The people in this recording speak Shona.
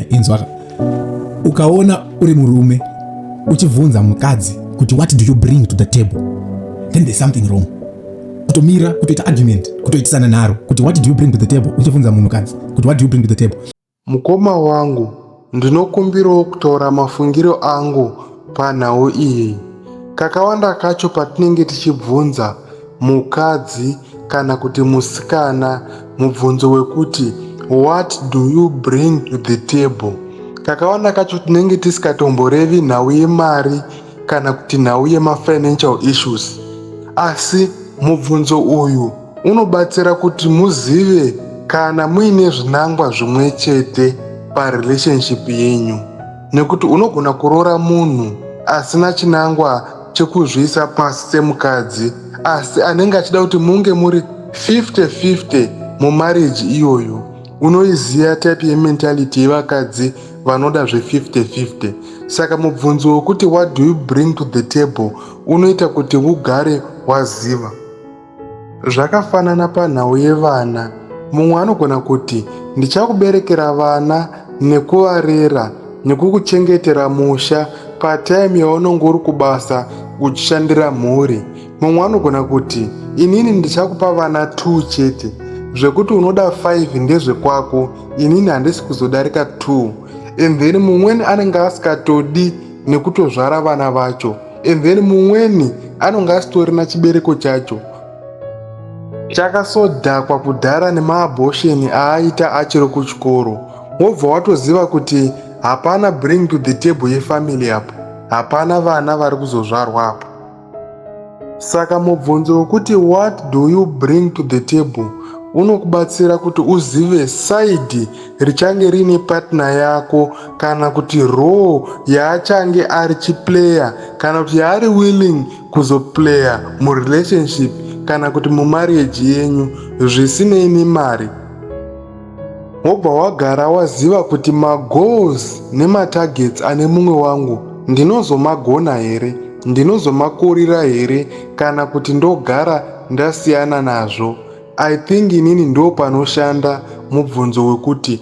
inzwaka ukaona uri murume uchibvunza mukadzi kuti what do you bring to the table then there's something wrong kutomira kutoita argument kutoitisana nharo kuti what do you bring to the table uchibvunza munhukadzi kuti what do you bring to the table mukoma wangu ndinokumbirawo kutaura mafungiro angu panhau iyi kakawanda kacho patinenge tichibvunza mukadzi kana kuti musikana mubvunzo wekuti what do you bring to the table kakawanda kacho tinenge tisikatomborevi nhau yemari kana kuti nhau yemafinancial issues asi mubvunzo uyu unobatsira kuti muzive kana muine zvinangwa zvimwe chete parelationship yenyu nekuti unogona kuroora munhu asina chinangwa chekuzviisa pasi semukadzi asi anenge achida kuti munge muri 50 50 mumarriage iyoyo unoiziva type yementality yevakadzi vanoda zve50 50 saka mubvunzo wekuti what do you bring to the table unoita kuti ugare waziva Zvakafanana panhau yevana, mumwe anogona kuti, Ndichakuberekera vana nekuvarera nekukuchengetera musha patime yaunenge uri kubasa uchishandira mhuri. Mumwe anogona kuti, Inini ndichakupa vana two chete, zvekuti unoda five ndezvekwako, inini handisi kuzodarika two. And then mumweni anenge asikatodi nekutozvara vana vacho. and then mumweni anonge asitorina chibereko chacho chakasodhakwa kudhara nemaabhosheni aaita achiri kuchikoro wobva watoziva kuti hapana bring to the table yefamily apo hapana vana vari kuzozvarwa apo saka mubvunzo wekuti what do you bring to the table unokubatsira kuti uzive saidi richange riine patna yako kana kuti role yaachange ari chiplayer kana kuti yaari willing kuzoplayer murelationship kana kuti mumarriage yenyu zvisinei nemari wobva wagara waziva kuti magoals nematargets ane mumwe wangu ndinozomagona here ndinozomakurira here kana kuti ndogara ndasiyana nazvo i think inini ndo panoshanda mubvunzo wekuti